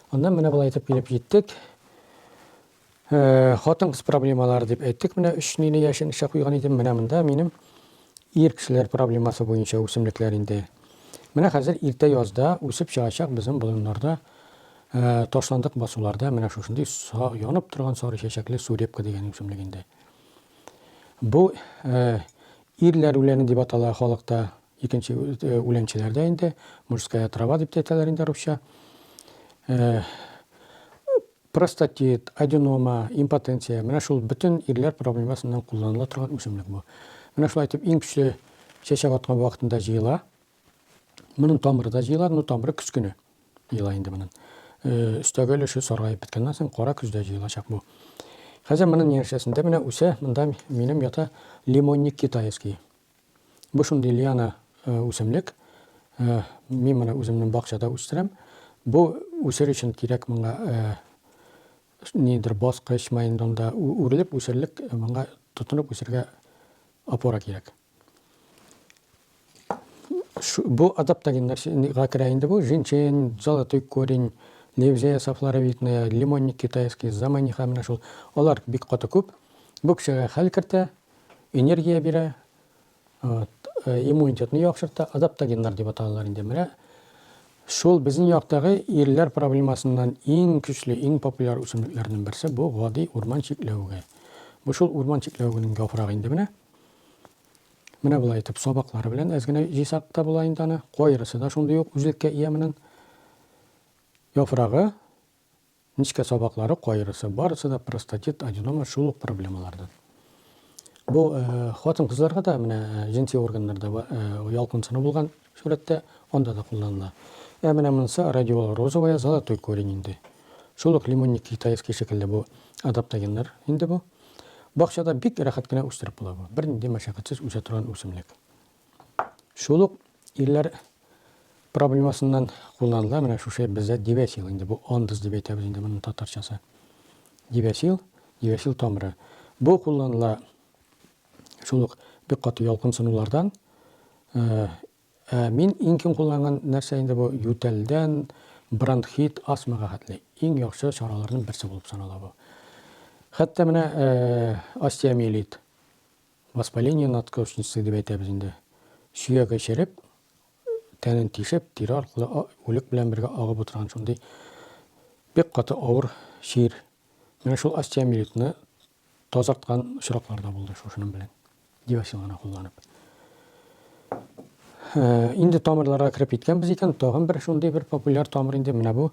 Аннан менә былай итеп килеп җиттек. Э, хатын кыз проблемалары дип әйттек. Менә өч нине яшен эчә куйган идем. Менә монда минем ир кешеләр проблемасы буенча үсемлекләр инде. Менә хәзер иртә язда үсеп чыгачак безнең болыннарда Ә ташландык басуларда менә шушындый саг, янып торган сары чәчәкле сурепка дигән үсемлек инде. Бу ирләр үләне дип атала халыкта, икенче үләнчеләрдә инде, мужская трава дип әйтәләр инде русча. Простатит, аденома, импотенция, менә шул бөтен ирләр проблемасыннан кулланыла торган үсемлек бу. Менә шулай итеп иң көчле чәчәк аткан вакытында җыела. Моның тамыры да җыела, но тамыры көз көне җыела инде моның. Э, өстәге өлеше саргаеп беткәннән соң кара көздә җыелачак бу. Хәзер моның нияшәсендә менә үсә, монда минем ята лимонник китайский. Бу шундый лиана э, үсемлек. Э, мин моны үземнең бакчада үстерәм. Бу үсер өчен кирәк моңа нидер баскыч, майндонда үрелеп үсерлек, моңа тотынып үсергә опора кирәк. Шу- Бу адаптогеннар чи- ни- га керә инде бу. Жинчэн, золотой корень, левзея софлоровидная, лимонник китайский, заманиха менә шул. Алар бик каты күп. Бу кешегә хәл кертә, энергия бирә, вот, э, иммунитетны яхшырта. Адаптогеннар дип аталалар инде. Менә шул безнең яктагы ирләр проблемасыннан иң көчле, иң популяр үсемлекләрнең берсе бу гади урман чикләвеге. Бу шул урман чикләвегенең яфрагы инде менә. Менә болай итеп сабаклары белән әз генә җыйсак та була инде аны. Кайрысы да шундый ук үзлеккә ия моның. Яфрагы, нечкә сабаклары, кайрысы, барысы да простатит, аденома шул ук проблемалардан. Бу э, хатын-кызларга да менә э, җенси органнарда э, ялкынсыну булган сурәттә, анда да кулланыла. Ә менә монысы радиола розовая золотой корень инде. Шул ук лимонник китаевский шикелле бу адаптогеннар инде бу. Бакчада бик рәхәт кенә үстереп була бу. Бернинди мәшәкатьсез үсә торган үсемлек. Шул ук ирләр проблемасыннан кулланыла менә шушы бездә дивәсил инде бу андыз дип әйтәбез инде моның татарчасы. Дивәсил, дивәсил тамыры. Бу кулланыла Шул ук бик каты ялкынсынулардан. Ә мин иң киң кулланган нәрсә инде бу ютәлдән бронхит, астмага хәтле иң яхшы чараларның берсе булып санала бу. Хәтта менә остеомиелит, воспаление надкошницы дип әйтәбез инде. Сөяге череп, тәнен тишеп, тире аркылы үлек белән бергә агып утырган шундый бик каты авыр чир. Менә шул остеомиелитны Тазарткан очраклар да булды шушының белән, диверсионлана кулланып. Инде тамырларга кереп киткәнбез икән, тагын бер шундый бер популяр тамыр инде менә бу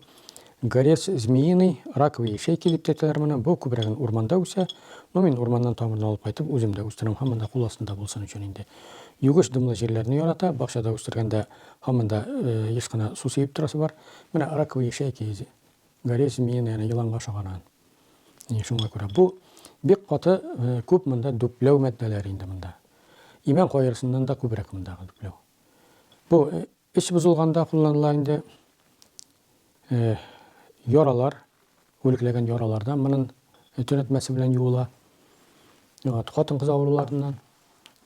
горец змеиный, раковый ячейки дип тетеләр моны. Бу күбрәген урманда үсә. Но мин урманнан тамырны алып кайтып үзем дә үстерәм, һәм монда кул астында булсын өчен инде. Югыш дымлы җирләрне ярата, бакчада үстергәндә һаман да еш кына су сибеп торасы бар. Менә раковый ячейки Гәрәй Симиен әнә еланга ошаган. Әнә шуңа күрә бу бик каты күп монда дүпләү матдәләре инде монда. Имән каерысыннан да күбрәк мондагы дүпләү. Бу эч бозылганда кулланыла инде. Яралар, үлекләгән яралардан монын төнәтмәсе белән юыла. Хатын-кыз авыруларыннан,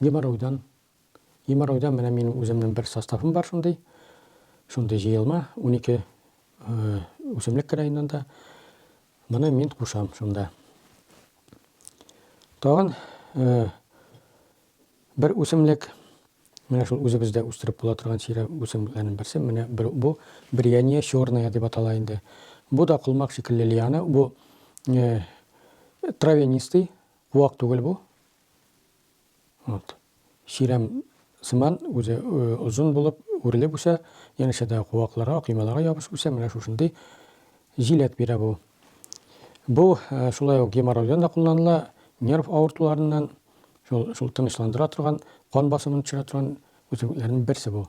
геморройдан Геморройда менә минем үземнең бер составым бар шундый. Шундый җыелма, унике үсемлек керә инде анда. Моны мин кушам шунда. Тагын бер үсемлек, менә шул үзебездә үстереп була торган сирә үсемлекләрнең берсе, менә бу брияние черная дип атала инде. Бу да колмак шикелле лиана, бу травянистый, вак түгел бу. Вот. Чирәм сыман үзе озын булып үрелеп үсә, янәшә дә куакларга, коймаларга ябышып үсә, менә шушындый җиләк бирә бу. Бу шулай ук геморройдан да кулланыла, нерв авыртуларыннан, шул, шул тынычландыра торган, кан басымын төшерә торган үсемлекләрнең берсе бу.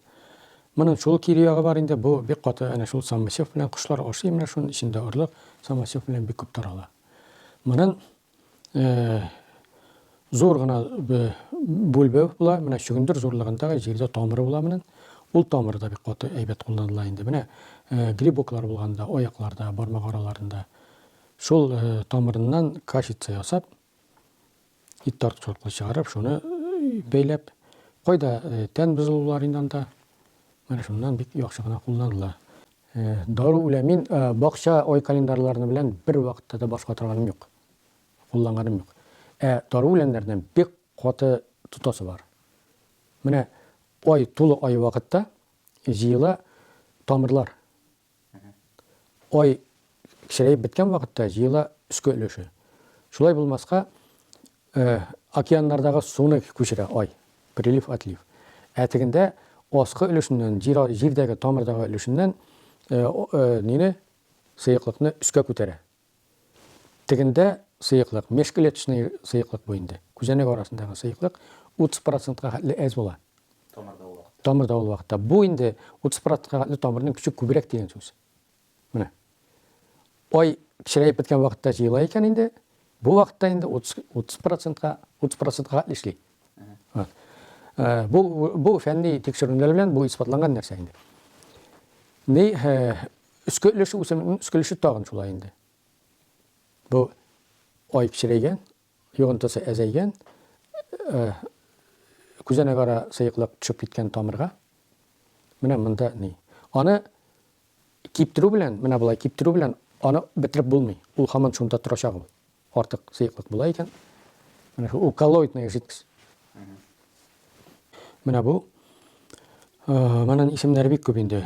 Моның шул кире ягы бар инде, бу бик каты, әнә шул самосев белән кошлар ашый, менә шуның эчендә орлык самосев белән бик күп тарала. Моның зур гына бүлбе була менә чөгендер зурлыгындагы җирдә тамыры була менен ул тамыры да бик каты әйбәт кулланыла инде менә грибоклар булганда аякларда бармак араларында шул тамырыннан кашица ясап ит тартучылыкны чыгарып шуны бәйләп кайда тән бозылулар инде анда менә шуннан бик яхшы гына кулланыла Дару үлә. Мин бакча ай календарьларны белән бер вакытта да баш ватырганым юк. Кулланганым юк. Ә дару үләннәрдән бик каты тотасы бар. Менә ай, тулы ай вакытта җыела тамырлар. Ай кечерәеп беткән вакытта җыела өске өлеше. Шулай булмаска, Э, океаннардагы суны күчерә, ай. Прилив-отлив. Ә тегендә аскы өлешеннән, җир а, җирдәге, тамырдагы өлешеннән э, о, э, нине, сыеклыкны өскә күтәрә. Тегендә сыеклык, межклеточный сыеклык бу инде. Күзәнәк арасындагы сыеклык 30 процентка хәтле әз була. Тамырда ул вакытта. Тамырда ул вакытта. Бу инде 30 процентка хәтле тамырның көче күбрәк дигән сүз. Менә. Ай кечерәеп беткән вакытта җыела икән инде. Бу вакытта инде 30 30%-ка 30%-ка эшли. Э, бу бу фәнни тикшеренүләр белән бу исбатланган нәрсә инде. Ни э, өскә өлеше үсемнең өскә өлеше тагын шулай инде. Бу ай кечерәйгән, Йогынтысы әзәйгән, күзәнәк ара сыеклык төшеп киткән тамырга. Менә монда ни. Аны киптерү белән, менә болай киптерү белән аны бетереп булмый. Ул хаман шунда торачак ул. Артык сыеклык була икән. Менә ул коллоидная жидкость. Менә бу. Э, Манан исемнәре бик күп инде.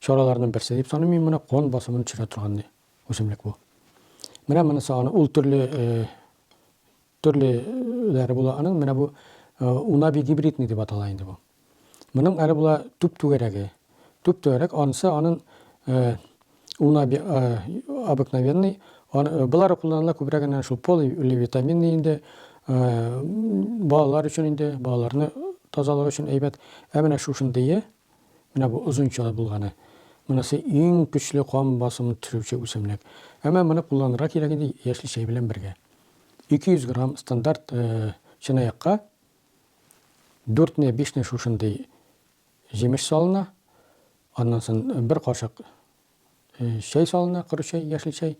Чараларның берсе дип саныйм мин моны, кан басымын төшерә торган үсемлек бу. Менә монысы аны, ул төрле төрлеләре була аның, менә бу унаби гибридный дип атала инде бу. Моның әле була төп түгәрәге. Төп түгәрәк анысы анын унаби обыкновенный, булары кулланыла күбрәк әнә шул поливитаминный инде балалар өчен инде, балаларны тазалыгы өчен әйбәт. Ә менә шушындые Менә бу озын чалы булганы. Монысы иң көчле кан басымын төшерүче үсемлек. Әмма моны кулланырга кирәк инде яшьли чәй белән бергә. 200 грамм стандарт чынаякка 4 не 5 не шушындый җимеш салына. Аннан соң бер кашык Чәй салына, коры чәй, яшел чәй.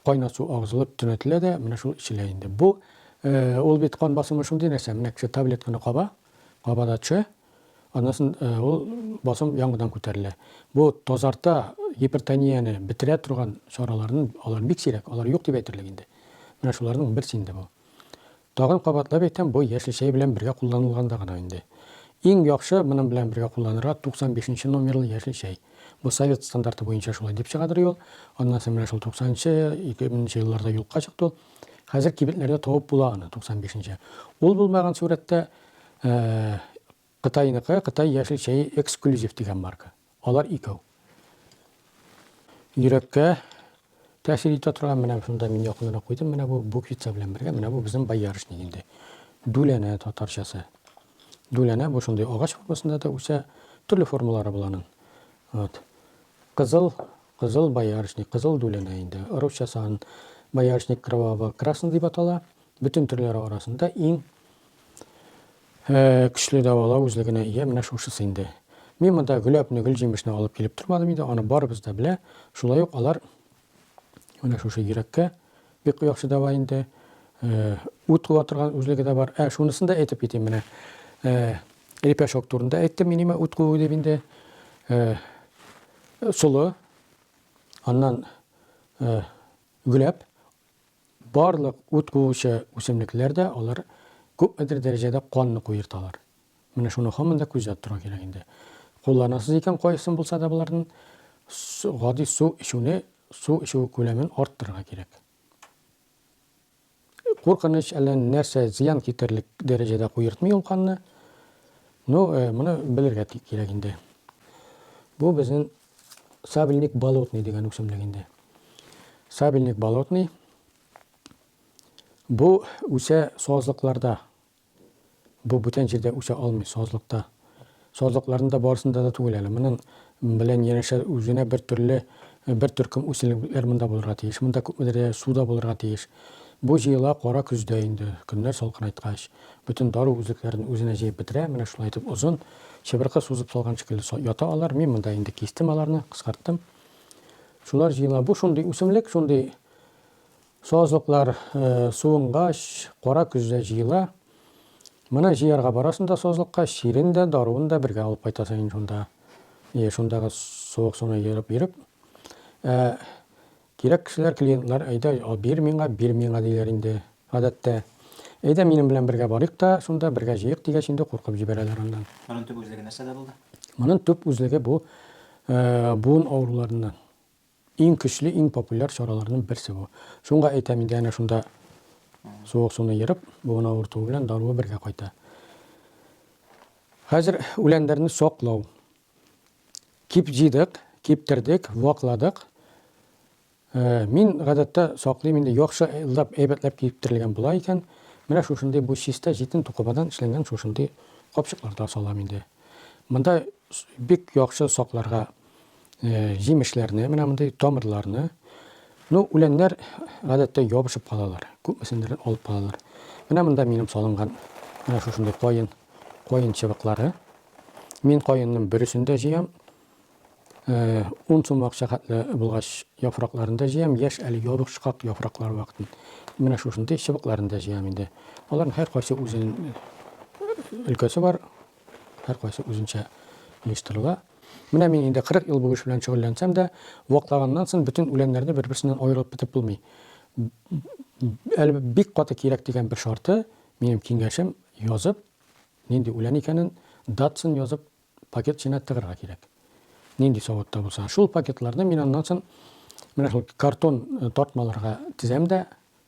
Кайнар су агызылып төнәтелә дә, менә шул эчелә инде. Бу ул бит кан басымы шундый нәрсә, менә кеше таблетканы каба, кабада төшә, аннан соң ул басым яңадан күтәрелә. Бу тазарта, гипертонияне бетерә торган чараларны алар бик сирәк, алар юк дип әйтерлек инде. Менә шуларның берсе инде бу. Тагын кабатлап әйтәм, бу яшел чәй белән бергә кулланылганда гына инде. Иң яхшы моның белән бергә кулланырга 95 нче номерлы яшел чәй. Бу совет стандарты буенча шулай дип чыгадыр ул. Аннан соң менә шул 90 нче, 2000 нче елларда юкка чыкты ул. Хәзер кибетләрдә табып була аны, 95 нче. Ул булмаган сурәттә, Кытайныкы, Кытай яшел чәе эксклюзив дигән марка. Алар икәү. Йөрәккә тәэсир итә торган, менә шунда мин якынрак куйдым, менә бу буквица белән бергә, менә бу безнең боярышник инде. Дүләнә татарчасы. Дүләнә бу шундый агач формасында да үсә, төрле формалары бул аның. Вот. Кызыл, кызыл боярышник, кызыл дүләнә инде. Русчасы ан боярышник кровавого красный дип атала. Бөтен төрләре арасында иң Ә, көчле дәвалау үзлегенә ия менә шушысы инде. Мин монда гөләпне, гөлҗимешне алып килеп тормадым инде, аны барыбыз да белә. Шулай ук алар менә шушы йөрәккә бик яхшы дәва инде. Ә, ут куа торган үзлеге дә бар. Ә, шунысын да әйтеп китим менә. Ә, лепешок турында әйттем мин имә ут куу дип инде. Ә, солы, аннан ә, гөләп, Барлык ут куучы үсемлекләр дә, алар күпмедер дәрәҗәдә канны куерталар. Менә шуның һаман да күзәтеп тору кирәк инде. Кулланасыз икән кайсын булса да болардан гади су эчүне, су эчү күләмен арттырырга кирәк. Куркыныч әллә нәрсә зыян китерлек дәрәҗәдә куертмый ул канны. Ну, э, моны белергә кирәк инде. Бу безнең Сабельник болотный дигән үсемлек инде. Сабельник болотный бу үсә сазлыкларда. Бу бүтән җирдә үсә алмый сазлыкта. Сазлыкларында барысында да түгел әле. Моның белән янәшә үзенә бер төрле бер төркем үсемлекләр монда булырга тиеш. Монда күпмедер дәрәҗә суда булырга тиеш. Бу җыела кара көздә инде, көннәр салкынайткач, бөтен дару үзлекләрен үзенә җыеп бетерә. Менә шулай итеп озын чыбыркы сузып салган шикелле ята алар. Мин монда инде кистем аларны, кыскарттым. Шулар җыела. Бу шундый үсемлек, шундый сазлыклар суынгач, кара көздә җыела. Моны җыярга барасың да сазлыкка, чирен дә, даруын да бергә алып кайтасың инде шунда. Шундагы суык суны ерып-ерып. Кирәк кешеләр, клиентлар, әйдә, бир миңа, бир миңа, диләр инде, гадәттә. Әйдә, минем белән бергә барыйк та, шунда бергә җыйыйк, дигәч инде куркып җибәрәләр аннан. Монын төп үзлеге нәрсәдә булды? Монын төп үзлеге бу буын авыруларыннан иң көчле, иң популяр чараларның берсе бу. Шунга әйтәм инде, әнә шунда суык суны ерып, буын авыртуы белән даруы бергә кайта. Хәзер үләннәрне саклау. Кип җыйдык, киптердек, вакладык. Мин гадәттә саклыйм инде яхшы ылдап әйбәтләп киптерелгән була икән, менә шушындый бу чистә җитен тукымадан эшләнгән шушындый капчыкларда салам инде. Монда бик яхшы сакларга җимешләрне, менә мондый тамырларны. Ну, үләннәр гадәттә ябышып калалар, күпмесендер алып калалар. Менә монда минем салынган менә шушындый каен, каен чыбыклары, Мин каенның бересен дә җыям. Э, ун сум акча хәтле булгач, яфракларын да җыям. Яшь әле ябышкак яфраклар вакытын. Менә шушындый чыбыкларын да җыям инде. Аларның һәркайсы үзен өлкәсе бар. Һәркайсы үзенчә оештырыла. Менә мин инде 40 ел бу эш белән шөгыльләнсәм дә, ваклаганнан соң бөтен үләннәрне бер-берсеннән аерып бетеп булмый. Әле бик каты кирәк дигән бер шарты, минем киңәшем, язып, Нинди үлән икәнен датсын язып пакет эченә тыгырга кирәк. Нинди савытта булса. Шул пакетларны мин аннан сон менә шул картон тартмаларга тезәм дә,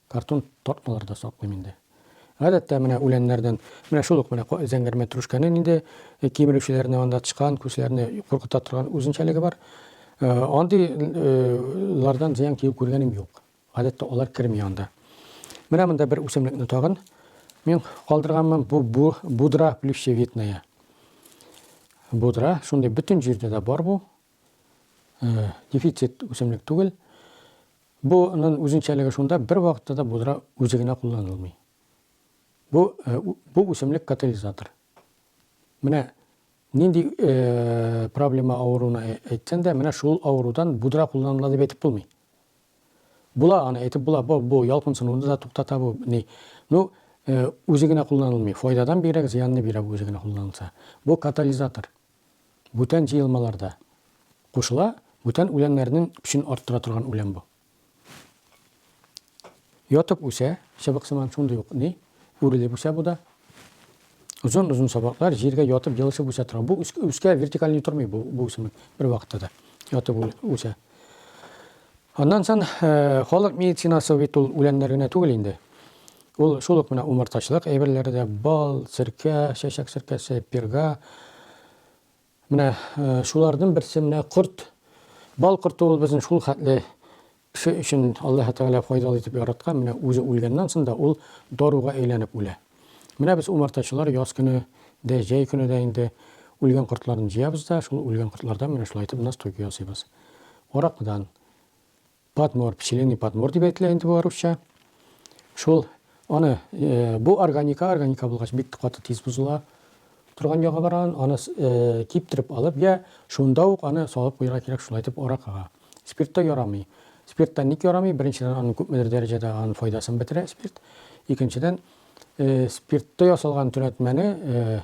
картон тартмаларда саклыйм инде. Гадәттә менә үләннәрдән менә шул ук менә зәңгәр мәтрүшкәнең инде кимерүчеләрне анда тычкан күзләрне куркыта торган үзенчәлеге бар. Андыйлардан зыян тию күргәнем юк. Гадәттә алар керми анда. Менә монда бер үсемлекне тагын мин калдырганмын. Бу будра плющевидная. Будра, шундый бөтен җирдә дә бар бу. Э, дефицит үсемлек түгел. Буның үзенчәлеге шунда, бер вакытта да будра үзе генә кулланылмый. Бу э, бу үсемлек катализатор. Менә нинди э, проблема авыруына әйтсәң дә, менә шул авырудан будра кулланыла дип әйтеп булмый. Була аны әйтеп була, бу, бу ялкынсынуны да туктата бу ни. Ну, э, үзе генә кулланылмый. Файдадан бигрәк зыянны бирә бу үзе генә кулланылса. Бу катализатор. Бүтән җыелмаларда кушыла, бүтән үләннәрнең көчен арттыра торган үлән бу. Ятып үсә, чыбык сыман шундый ук ни, үрелеп үсә бу да. Озын-озын сабаклар җиргә ятып елышып үсә тора. Бу үскә вертикальный тормый бу, бу үсемлек бер вакытта да ятып үсә. Аннан сон э, халык медицинасы бит ул үләннәр генә түгел инде. Ул шул ук менә умартачылык әйберләре дә бал, серкә, чәчәк серкәсе, перга, Менә шуларның берсе менә корт. Бал корты ул безнең шул хәтле кеше өчен Аллаһы Тәгалә файдалы итеп яраткан, менә үзе үлгәннән соң да ул даруга әйләнеп үлә. Менә без умартачылар яз көне дә, җәй көне дә инде үлгән кортларны җыябыз да, шул үлгән кортлардан менә шулай итеп настой ясыйбыз. Аракыдан. Патмор, пчелиный патмор дип әйтелә инде бу русча. Шул аны э, бу органика, органика булгач бик каты тиз бозыла торган ягы бар аны, аны э, киптереп алып, я шунда ук аны салып куярга кирәк, шулай итеп аракага. Спиртта ярамый. Спиртта ник ярамый? Беренчедән, аның күпмедер дәрәҗәдә аның файдасын бетерә спирт. Икенчедән, э, спиртта ясалган төнәтмәне э,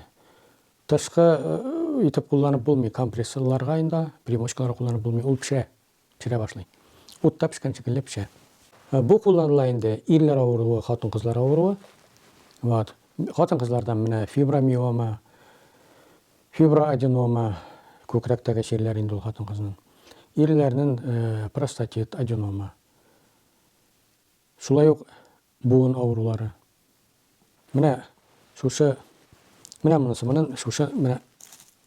тышкы э, итеп кулланып булмый, компрессорларга инде, примочкаларга кулланып булмый, ул пешә. пешерә башлый. Утта пешкән шикелле пешә. Бу кулланыла инде ирләр авыруы, хатын-кызлар авыруы. Вот. Хатын-кызларда менә фибромиома, фиброаденома, күкрәктәге чирләр инде ул хатын-кызның. Ирләрнең простатит, аденома. Шулай ук Буын авырулары. Менә шушы, менә монысы, монын шушы, менә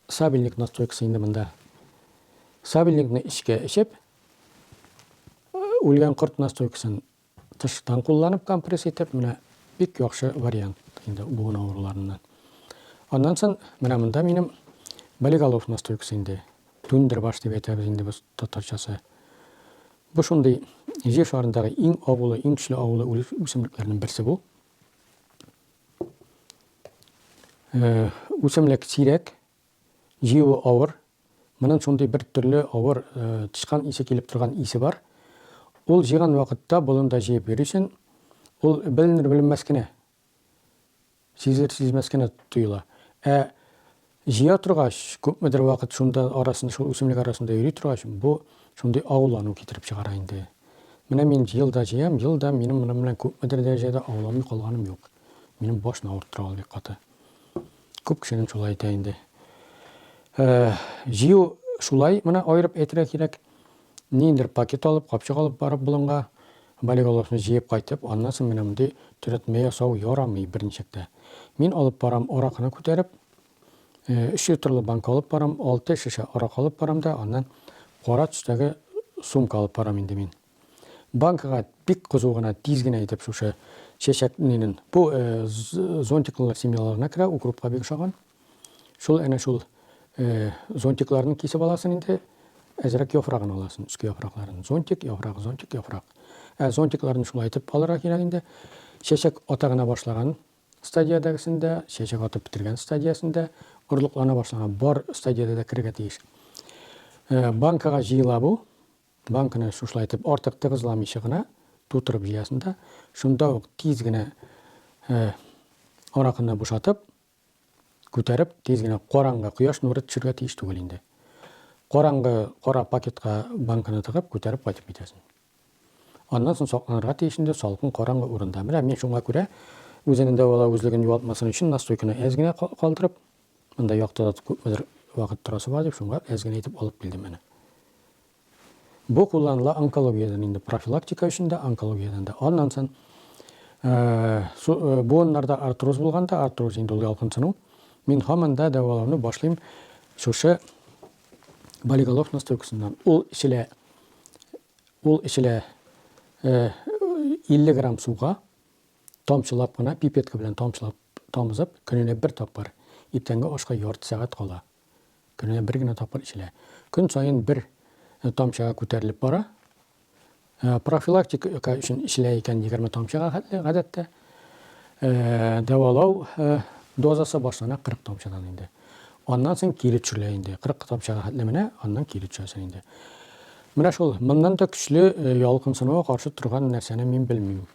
сабельник настойкасы инде монда. Сабельникны эчкә эчеп, үлгән корт настойкасын тыштан кулланып компресс итеп, менә бик яхшы вариант инде буын авыруларыннан. Аннан сон менә монда минем болиголов настойкасы инде. Түндер баш дип әйтәбез инде без татарчасы. Бу шундый Җир шарындагы иң агулы, иң көчле агулы үсемлекләрнең берсе бу. Үсемлек сирәк, җыюы авыр. Моның шундый бер төрле авыр тычкан исе килеп торган исе бар. Ул җыйган вакытта болында җыеп йөрисен, ул беленер-беленмәс кенә Сизелер-сизмәс кенә тоела. Ә җыя торгач, күпмедер вакыт шунда арасында, шул үсемлек арасында йөри торгач, бу шундый авыллану китереп чыгара инде. Менә мин ел да җыям, ел да минем моның белән күпмедер дәрәҗәдә ауламый калганым юк. Минем башны авырттыра ул бик каты. Күп кешенең шулай итә инде. Җыю шулай, моны аерып әйтергә кирәк. Ниндидер пакет алып, капчык алып барып болынга, болиголовны җыеп кайтып, аннан соң менә мондый төрәтмә ясау ярамый берничек тә. Мин алып барам аракыны күтәреп, өч литрлы банка алып барам, алты шешә аракы алып барам да, аннан кара төстәге сумка алып барам инде мин. Банкага бик кызу гына, тиз генә итеп шушы чәчәк нинен. Бу зонтиклылар семьяларына керә, укропка бик ошаган. Шул әнә шул зонтикларны кисеп аласың инде, әзрәк яфрагын аласың, өске яфракларын. Зонтик, яфрак, зонтик, яфрак. Ә зонтикларны шулай итеп алырга кирәк инде. Чәчәк ата гына башлаган стадиядәгесендә, чәчәк атып бетергән стадиясендә, орлыклана башлаган бар стадиядә дә керергә тиеш. Э, банкага җыела бу. Банканы шушылай итеп артык тыгызламыйча гына тутырып җыясың да, шунда ук тиз генә э, аракыны бушатып, күтәреп, тиз генә караңгы, кояш нуры төшергә тиеш түгел инде. Караңгы кара пакетка банканы тыгып, күтәреп кайтып китәсең. Аннан соң сакланырга тиеш инде салкын караңгы урында. Менә мин шуңа күрә үзенең дәвалау үзлеген югалтмасын өчен настойканы әз генә калдырып, монда яктыда күпмедер вакыт торасы бар дип, шуңа әз генә итеп алып килдем әнә. Бу кулланыла онкологиядән инде, профилактика өчен дә, онкологиядән дә. Аннан сон буыннарда артроз булганда, артроз инде ул ялкынсыну, мин һаман да дәвалауны башлыйм шушы болиголов настойкасыннан. Ул эчелә, ул эчелә 50 грамм суга, тамчылап кына, пипетка белән тамчылап тамызып, көненә бер тапкыр, иртәнге ашка ярты сәгать кала. Көненә бер генә тапкыр эчелә. Көн саен бер э, тамчыга күтәрелеп бара. Э, профилактика өчен эчелә икән 20 тамчыга хәтле гадәттә. Э, дәвалау дозасы башлана 40 тамчыдан инде. Аннан соң кире төшерелә инде. 40 тамчыга хәтле менә, аннан кире төшәсең инде. Менә шул, моннан да көчле ялкынсынуга каршы торган нәрсәне мин белмим.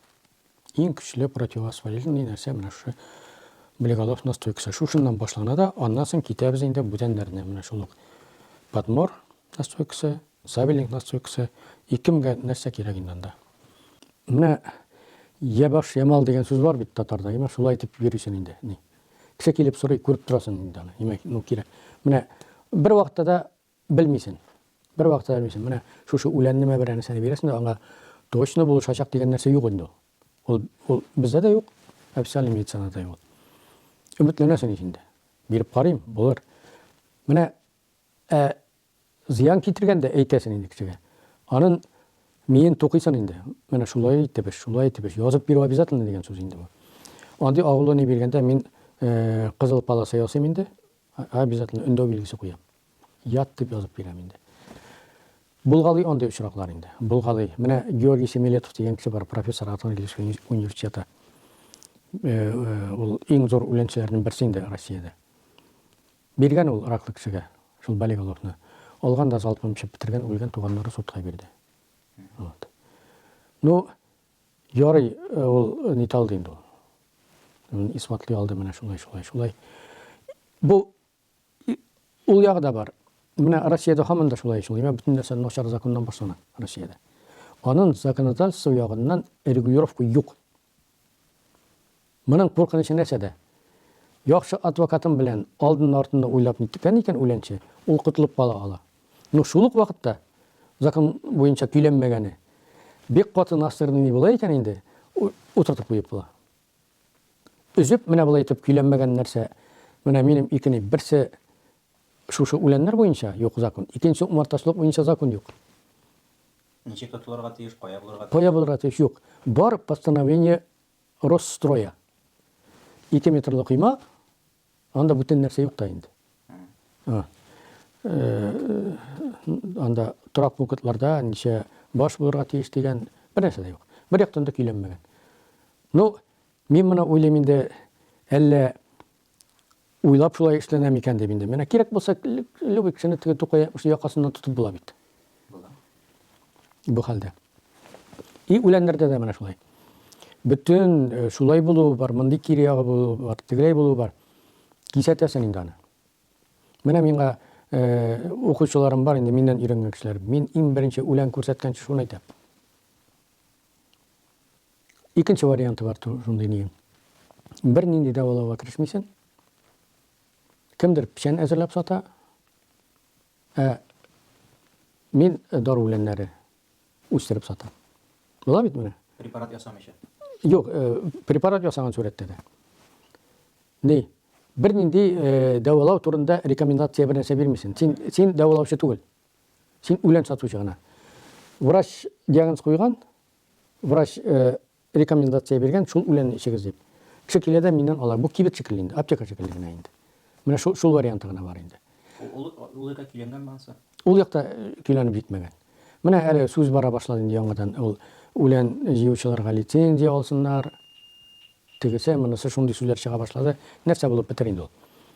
Иң көчле противовоспалительный нәрсә менә шушы блеголов настойкасы. Шушыннан башлана да, аннан соң китәбез инде бүтәннәренә. Менә шул ук подмор настойкасы, сабелинг настойкасы. Икемгә нәрсә кирәк инде анда? Менә я баш, я мал дигән сүз бар бит татарда. Имә шулай итеп йөрисен инде. Ни? Кеше килеп сорый, күреп торасың инде аны. Имә, ну кирәк. Менә бер вакытта да Белмисен. Бер вакытта да белмисен. Менә шушы үләнне мә бер әнисәне бирәсен дә аңа точно булышачак дигән нәрсә юк инде ул. Ул, ул бездә дә юк, официальный медицинада да юк. Өметләнәсен ич инде. Биреп карыйм, булыр. Менә ә зыян китергәндә әйтәсен инде кешегә. Анын миен тукыйсын инде. Менә шулай итеп эш, шулай итеп эш. Язып бирү обязательно дигән сүз инде бу. Андый агулония биргәндә мин кызыл полоса ясыйм инде. Обязательно өндәү билгесе куям. Ят дип язып бирәм инде. Булгалый андый очраклар инде. Булгалый. Менә Георгий Семилетов дигән кеше бар, профессор Атон Ильич университеты. Ул иң зур үләнчеләрнең берсе инде Россиядә. Биргән ул раклы кешегә шул болиголовны. Алган да залпом эчеп бетергән, үлгән, туганнары судка бирде. Вот. Ну, Ярый, ул нит алды инде ул. Ул исбатлый алды менә шулай, шулай, шулай. Бу ул ягы да бар. Менә Россиядә һаман да шулай, шулай. Менә бөтен нәрсә начар законнан башлана Россиядә. Аның законодательство ягыннан регулировка юк. Моның куркынычы нәрсәдә? Яхшы адвокатым белән алдыннда-артында уйлап ниткән икән үләнче, ул котылып кала ала. Ну, шул ук вакытта, закон буенча көйләнмәгәне, бик каты настырный ни була икән инде, утыртып куеп була. Өзеп, менә болай итеп көйләнмәгән нәрсә, менә минем ике ни, берсе шушы үләннәр буенча юк закон, икенче умартачылык буенча закон юк. Ничек котылырга тиеш, кая булырга тиеш? Кая булырга тиеш, юк. Бар постановление Росстрой-а. Ике метрлы койма, анда бүтән нәрсә юк та инде. Ә, анда торак пунктларда ничә баш булырга тиеш дигән бер нәрсә дә юк. Бер яктан да көйләнмәгән. Ну, мин моны уйлыйм инде, әллә Уйлап шулай эшләнә микән дип инде. Менә кирәк булса, любой кешене теге Тукай әйтмешли якасыннан тотып була бит. Була. Бу хәлдә. И үләннәрдә дә менә шулай. Бөтен э, шулай булуы бар, мондый кире ягы булуы бар, тегеләй булуы бар. Кисәтәсең инде аны. Менә миңа э, укучыларым бар инде миннән өйрәнгән кешеләр. Мин иң беренче үлән күрсәткәнче шуны әйтәм. Икенче варианты бар шундый нием. Бер нинди дәвалауга керешмисен. Кемдер печән әзерләп сата. Ә мин дару үләннәре үстереп сатам. Була бит менә. Препарат ясамыйча. Юк, э, препарат ясаган сурәттә дә. Ни? Бер нинди э, дәвалау турында рекомендация бер нәрсә бирмисен. Син син дәвалаучы түгел. Син үлән сатучы гына. Врач диагноз куйган, Врач рекомендация биргән, шул үләнне эчегез дип. Кеше килә дә миннән ала. Бу кибет шикелле инде, аптека шикелле генә инде. Менә шул, шул варианты гына бар инде. Ул, ул якта көйләнгәнме ансы? Ул якта көйләнеп җитмәгән. Менә әле сүз бара башлады инде яңадан. Ул үлән җыючыларга лицензия алсыннар. Тегесе, монысы шундый сүзләр чыга башлады. Нәрсә булып бетер инде ул?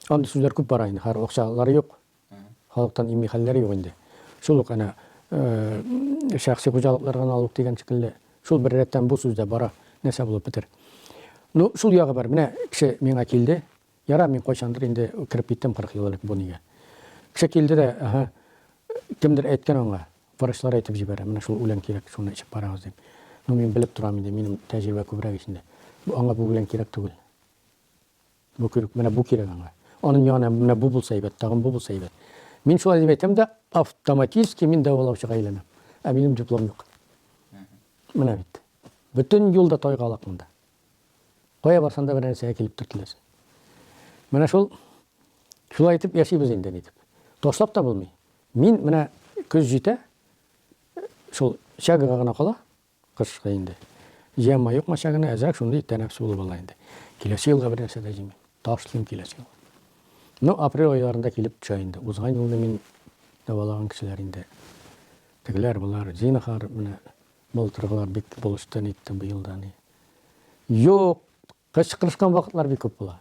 Андый сүзләр күп бара инде, хәер акчалары юк. Халыктан имми хәлләр юк инде. Шул ук әнә шәхси хуҗалыклар гына ул ук дигән шикелле. Шул бер рәттән бу сүз дә бара, нәрсә булып бетер. Ну, шул ягы бар. Менә кеше миңа килде. Ярар, мин кайчандыр инде кереп киттем 40 ел элек бу нигә. Кеше килде дә, аһа, кемдер әйткән аңа, врачлар әйтеп җибәрә, менә шул үлән кирәк, шуны эчеп карагыз дип. Ну, мин белеп торам инде, минем тәҗрибә күбрәк ич инде. Аңа бу үлән кирәк түгел. Бу кирәк, менә бу кирәк аңа. Аның янына менә бу булса әйбәт, тагын бу булса әйбәт. Мин шулай дип әйтәм дә, автоматически мин дәвалаучыга әйләнәм. Ә минем диплом юк. Менә бит. Бөтен юлда тайгалак монда. Кая барсаң да бер нәрсәгә килеп төртеләсең. Менә шул шулай итеп яшибез инде ни дип. Ташлап та булмый. Мин менә көз җитә, шул чагыга гына кала, Кышкы инде. Җыямма юкмача гына әзрәк шундый тәнәфес булып ала инде. Киләсе елга бер нәрсә дә җыймыйм. Ташлыйм киләсе елга. Ну, апрель айларында килеп төшә инде. Узган елны мин дәвалаган кешеләр инде. Тегеләр, болар, зинахар, менә былтыргылар бик булышты, нитте быел да ни. Юк, кычкырышкан вакытлар бик күп була.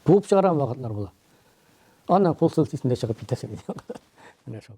Куып чыгарган вакытлар була. Аннан кул селтисендә чыгып китәсең. Менә шул.